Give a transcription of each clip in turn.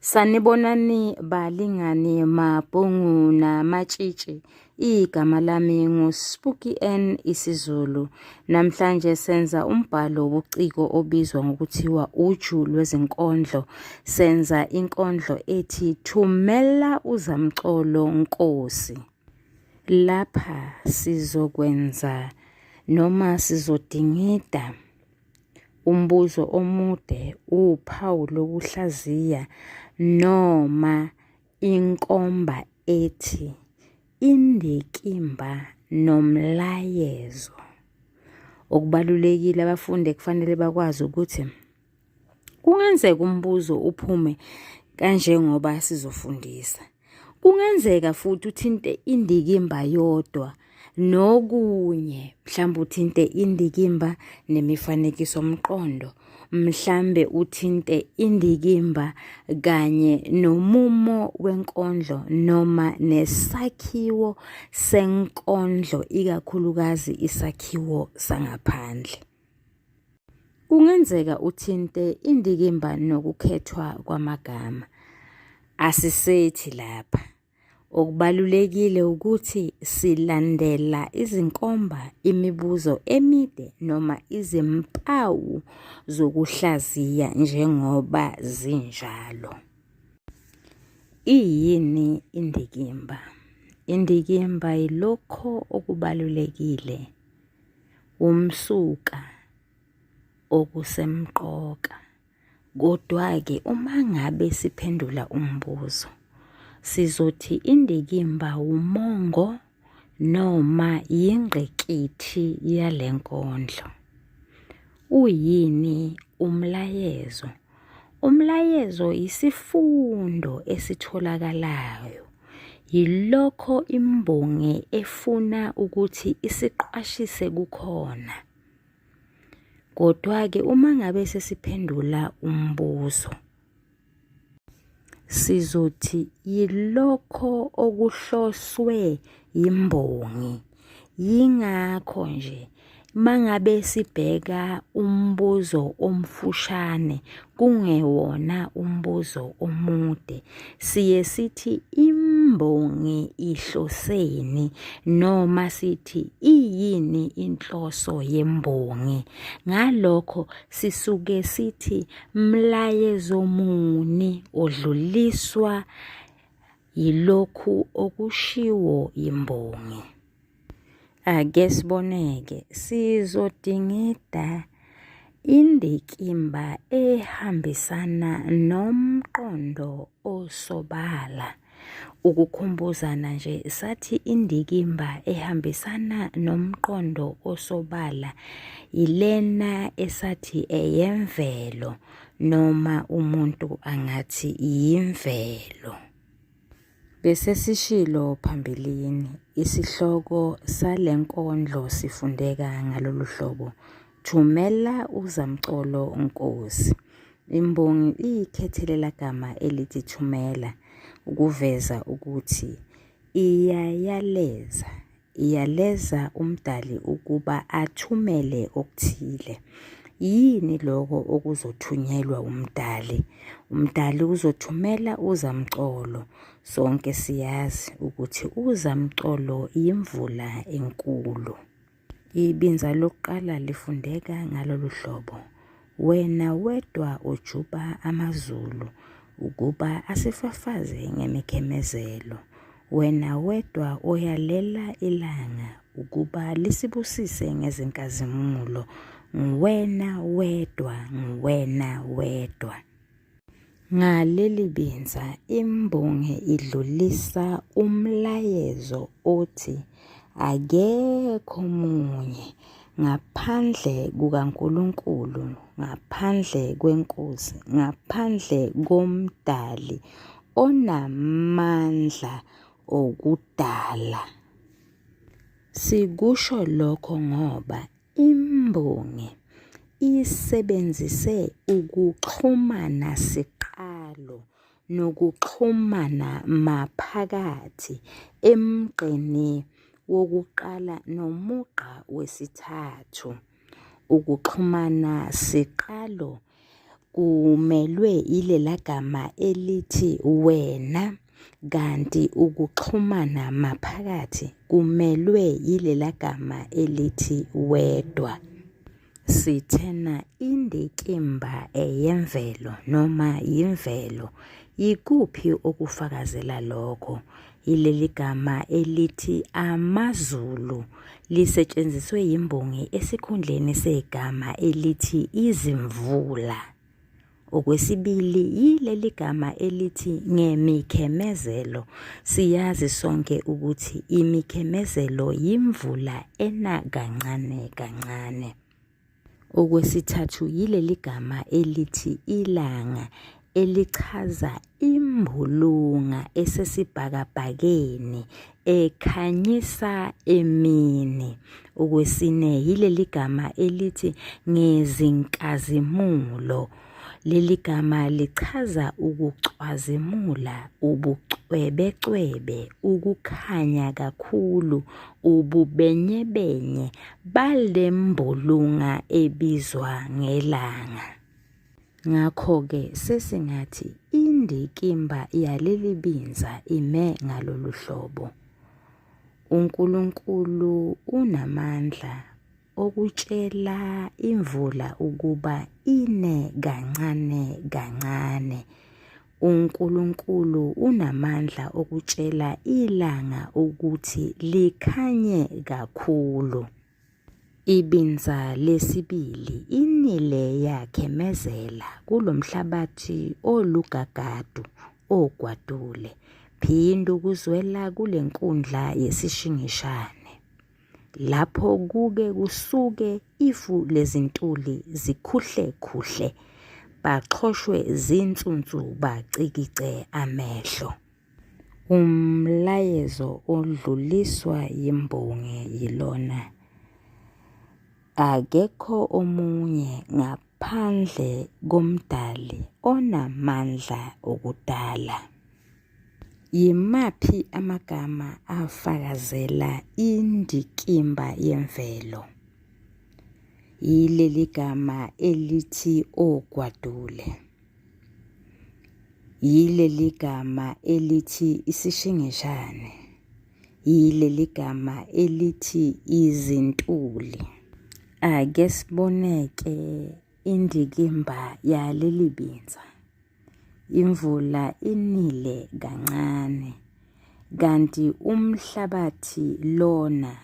Sanibonani balingani mabhungu namatshitshi. Igama lami nguSpooky N isiZulu. Namhlanje senza umbhalo wobuciko obizwa ngokuthiwa uju lwezinkondlo. Senza inkondlo ethi thumela uzamcolo Nkosi. Lapha sizokwenza noma sizodingida Umbuzo omude uwuphawu lokuhlaziya noma inkomba ethi indikimba nomlayezo. Okubalulekile abafundi ekufanele bakwazi ukuthi kungenzeka umbuzo uphume kanjengoba sizofundisa. Kungenzeka futhi uthinte indikimba yodwa nokunye mhlawumbe uthinte indikimba nemifanekiso mqondo mhlambe uthinte indikimba kanye nomumo wenkondlo noma nesakhiwo senkondlo ikakhulukazi isakhiwo sangaphandle. Kungenzeka uthinte indikimba nokukhethwa kwamagama. Asisethi lapha. Okubalulekile ukuthi silandela izinkomba, imibuzo emide noma izimpawu zokuhlaziya njengoba zinjalo. Iyini indikimba? Indikimba yilokho okubalulekile womsuka okusemqoka. Kodwa-ke uma ngabe siphendula umbuzo, sizothi indikimba wumongo noma yingqikithi yale nkondlo. Uyini umlayezo? Umlayezo yisifundo esitholakalayo. Yilokho imbongi efuna ukuthi isiqwashise kukhona. Kodwa-ke uma ngabe sesiphendula umbuzo. sizothi yilokho okuhloswe yimbongi yingakho nje mangabe sibheka umbuzo omfushane kungewona umbuzo omude siye sithi imbongi ihloseni noma sithi iyini inhloso yembongi ngalokho sisuke sithi Mlayezo muni odluliswa yilokhu okushiwo yimbongi? Ake siboneke sizodingida indikimba ehambisana nomqondo osobala. Ukukhumbuzana nje sathi indikimba ehambisana nomqondo osobala yilena esathi eyemvelo noma umuntu angathi yimvelo. Bese sishilo phambilini, isihloko sale nkondlo sifundeka ngalolu hlobo, Thumela uZamcolo Nkosi. Imbongi iyikhethelelagama elithi thumela ukuveza ukuthi iyayaleza, iyaleza uMdali ukuba athumele okuthile. Yini lokho okuzothunyelwa uMdali? UMdali uzothumela uZamcolo. Sonke siyazi ukuthi uZamcolo yimvula enkulu. Ibinza lokuqala lifundeka ngalolu hlobo, Wena wedwa ujuba amazulu ukuba asifafaze ngemikhemezelo, wena wedwa oyalela ilanga ukuba lisibusise ngezinkazimulo, nguwena wedwa, nguwena wedwa. Ngaleli binza imbongi idlulisa umlayezo othi akekho munye ngaphandle kukaNkulunkulu, ngaphandle kweNkosi, ngaphandle koMdali onamandla okudala. Sikusho lokho ngoba Imbongi isebenzise ukuxhumana siqalo nokuxhumana maphakathi emgqeni wokuqala nomugqa wesithathu. Ukuxhumana siqalo kumelwe ilela gama elithi wena kanti ukuxhumana maphakathi kumelwe ilela gama elithi wedwa. Sithena indikimba eyemvelo noma yimvelo. Yikuphi okufakazela lokho? Yileli gama elithi amaZulu lisetshenziswe yimbongi esikhundleni segama elithi izimvula. Okwesibili yileli gama elithi ngemikhemezelo. Siyazi sonke ukuthi imikhemezelo yimvula ena kancane kancane. Okwesithathu yileli gama elithi ilanga elichaza imbulunga esesibhakabhakeni ekhanyisa emini. Okwesine yileli gama elithi ngezinkazimulo. Leli gama lichaza ukucwazimula, ubucwebecwebe, ukukhanya kakhulu, ububenyebenye balembulunga ebizwa ngelanga. Ngakho-ke sesingathi indikimba yaleli binza ime ngalolu hlobo. UNkulunkulu unamandla okutshela imvula ukuba ine kancane kancane. UNkulunkulu unamandla okutshela ilanga ukuthi likhanye kakhulu. Ibinza lesibili inile yakhemezela kulomhlabathi olugagadu ogwadule. Phinda ukuzwela kulenkundla yesishingishane. lapho kuke kusuke ifu lezintuli zikhuhle khuhle baxhoshwe zinsunsu bacikice amehlo umlayezo odluliswa yimbongi yilona akekho omunye ngaphandle Phandle koMdali onamandla okudala. Yimaphi amagama afakazela indikimba yemvelo? Yileli gama elithi ogwadule. Yileli gama elithi isishingishane. yileli gama elithi izintuli. Ake sibone-ke indikimba yaleli binza. Imvula inile kancane kanti umhlabathi lona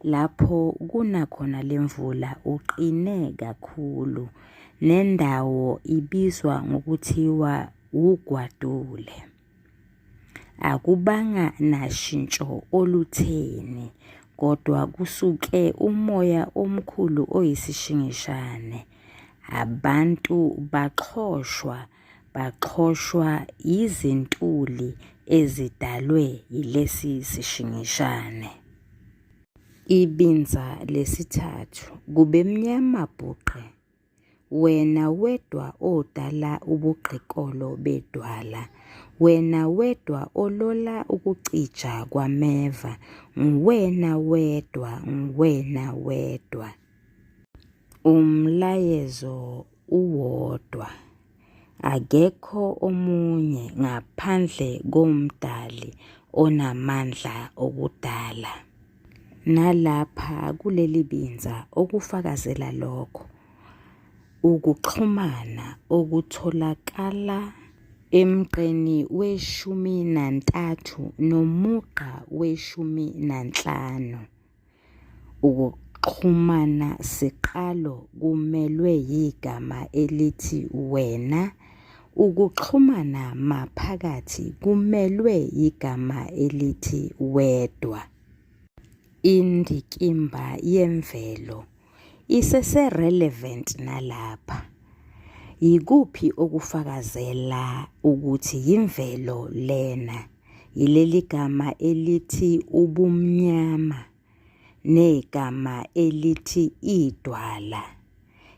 lapho kuna khona le mvula uqine kakhulu nendawo ibizwa ngokuthiwa wugwadule. Akubanga nashintsho olutheni kodwa kusuke umoya omkhulu oyisishingishane. Abantu baxhoshwa baxhoshwa yizintuli ezidalwe yilesi sishingishane. Ibinza lesithathu kubemnyama bhuqe. Wena wedwa odala ubugqikolo bedwala, wena wedwa olola ukucija kwameva, nguwena wedwa, nguwena wedwa. Umlayezo uwodwa. Akekho omunye ngaphandle koMdali onamandla okudala. Nalapha kuleli binza okufakazela lokho ukuxhumana okutholakala emgqeni weshumi nantathu nomugqa weshumi nanhlanu. Ukuxhumana siqalo kumelwe yigama elithi wena. Ukuxhumana maphakathi kumelwe yigama elithi wedwa. Indikimba yemvelo isese-relevant nalapha. Yikuphi okufakazela ukuthi yimvelo lena? Yileli gama elithi ubumnyama negama elithi idwala.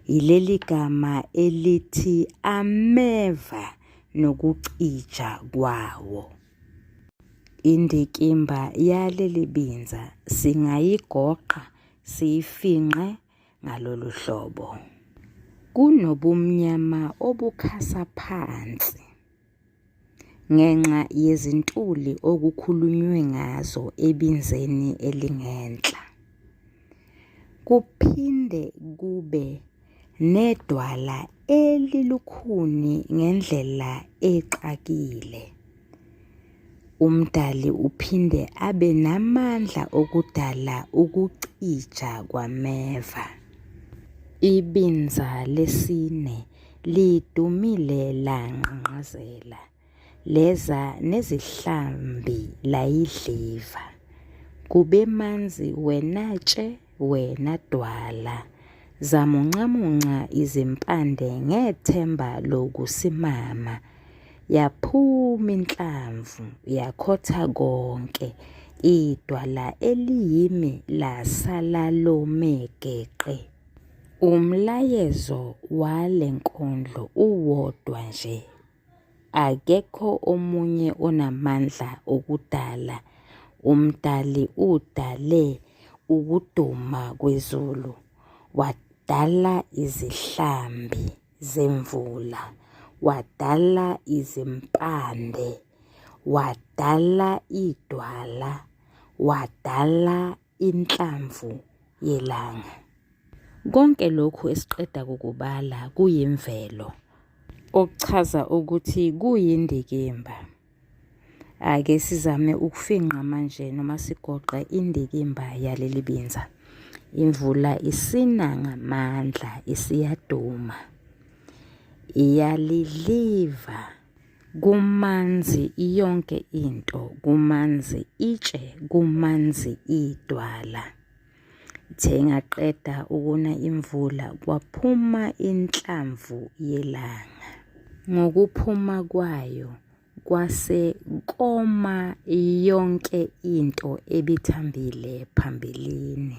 Yileli gama elithi ameva nokucija kwawo. Indikimba yaleli binza singayigoqa siyifinqe ngalolu hlobo. Kunobumnyama obukhasa phansi. Ngenxa yezintuli okukhulunywe ngazo ebinzeni elingenhla, kuphinde kube nedwala elilukhuni ngendlela exakile. UMdali uphinde abe namandla okudala ukucija kwameva. Ibinza lesine lidumile langqangqazela. leza nezihlambi layidliva kube manzi wena tshe wena dwala zamuncamunca izimpande ngethemba lokusimama yaphuma inhlamvu yakhotha konke idwala eliyimi lasala lomegeqe umlayezo wale nkondlo uwodwa nje Akekho omunye onamandla okudala, uMdali udale ukuduma kwezulu, wadala izihlambi zemvula, wadala izimpande, wadala idwala, wadala inhlamvu yelanga. Konke lokhu esiqeda kukubala kuyimvelo, okuchaza ukuthi kuyindikimba. Ake sizame ukufinqa manje noma sigoqe indikimba yaleli binza. Imvula isina ngamandla isiyaduma. Iyaliliva kumanzi yonke into kumanzi itshe kumanzi idwala ithe ingaqeda ukuna imvula kwaphuma inhlamvu yelanga ngokuphuma kwayo kwase koma yonke into ebithambile phambilini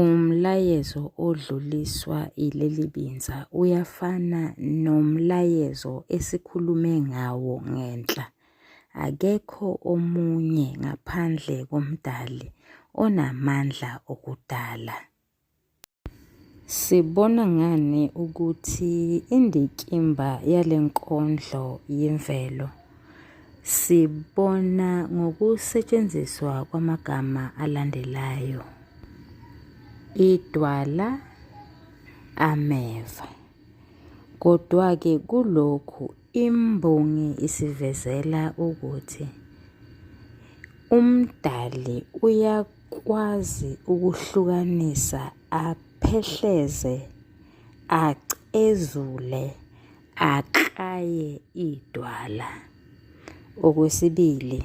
Umlayezo odluliswa ileli binza uyafana nomlayezo esikhulume ngawo ngenhla. Akekho omunye ngaphandle koMdali onamandla okudala. Sibona ngani ukuthi indikimba yale nkondlo yimvelo? Sibona ngokusetshenziswa kwamagama alandelayo. Idwala ameva. Kodwa-ke kulokhu imbongi isivezela ukuthi uMdali uyakwazi ukuhlukanisa aphehleze acezule Akraye idwala. Okwesibili,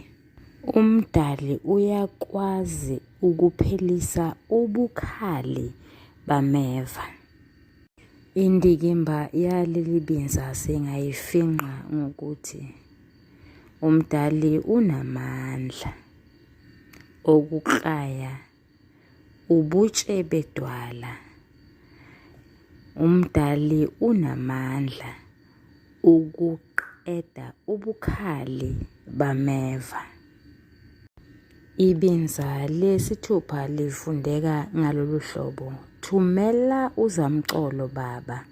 uMdali uyakwazi ukuphelisa ubukhali bameva. Indikimba yaleli binza singayifinqa ngokuthi uMdali unamandla okuklaya Ubutshe bedwala. Umdali unamandla ukuqeda ubukhali bameva. Ibinza lesithupha lifundeka ngalolu hlobo, Thumela uzamcolo baba,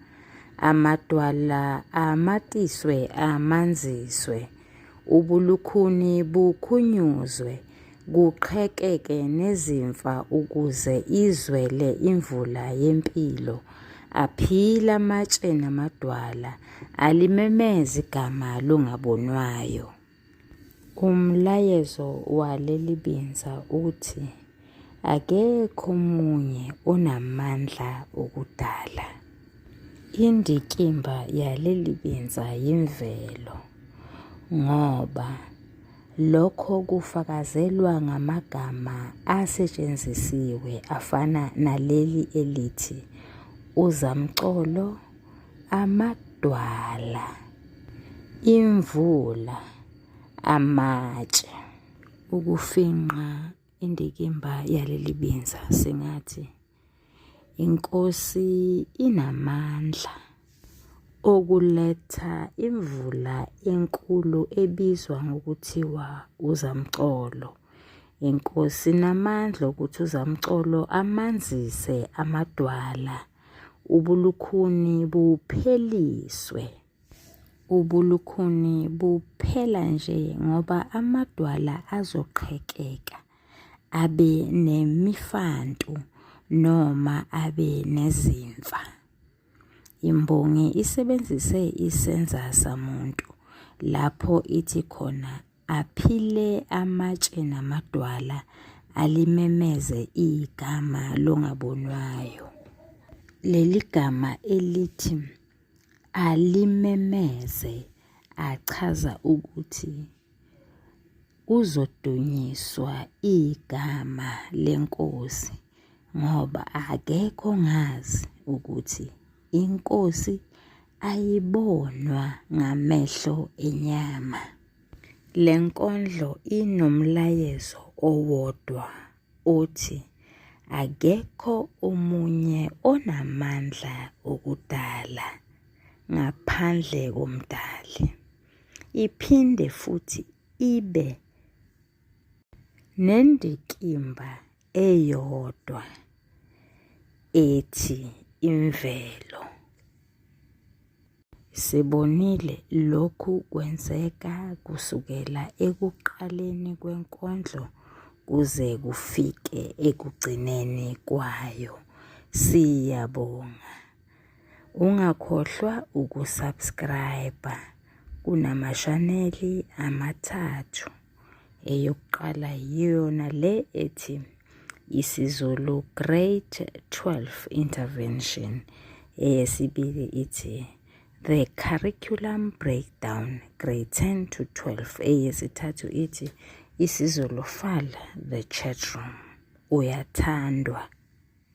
amadwala amatiswe amanziswe, ubulukhuni bukhunyuzwe, kuqhekeke nezimfa ukuze izwele imvula yempilo aphila amatshe namadwala alimemeza igama longabonwayo umlayezo waleli binza uthi akekho omunye onamandla okudala indikimba yaleli binza yimvelo ngoba Lokho kufakazelwa ngamagama asetshenzisiwe afana naleli elithi uzamcolo, amadwala, imvula, amatshe. Ukufingqa indikimba yaleli binza singathi. Inkosi inamandla okuletha imvula enkulu ebizwa ngokuthiwa uzamcolo. Inkosi inamandla okuthi uzamcolo amanzise amadwala, ubulukhuni bupheliswe. Ubulukhuni buphela nje ngoba amadwala azoqhekeka. abe nemifantu noma abe nezimfa. Imbongi isebenzise isenza samuntu lapho ithi khona aphile amatshe namadwala alimemeze igama longabonwayo. Leli gama elithi alimemeze achaza ukuthi Kuzodunyiswa igama lenkosi ngoba akekho ngazi ukuthi inkosi ayibonwa ngamehlo enyama. Le nkondlo inomlayezo owodwa othi akekho omunye onamandla okudala ngaphandle koMdali. Iphinde futhi ibe nendikimba eyodwa ethi imvelo. Sibonile lokhu kwenzeka kusukela ekuqaleni kwenkondlo kuze kufike ekugcineni kwayo. Siyabonga. Ungakhohlwa ukusubscribe kunamashaneli amathathu. Eyokuqala yiyona le ethi isiZulu Grade 12 Intervention. Eyesibili ithi The Curriculum Breakdown Grade 10 to 12. Eyesithathu ithi isiZulu Fal The Chatroom. Uyathandwa.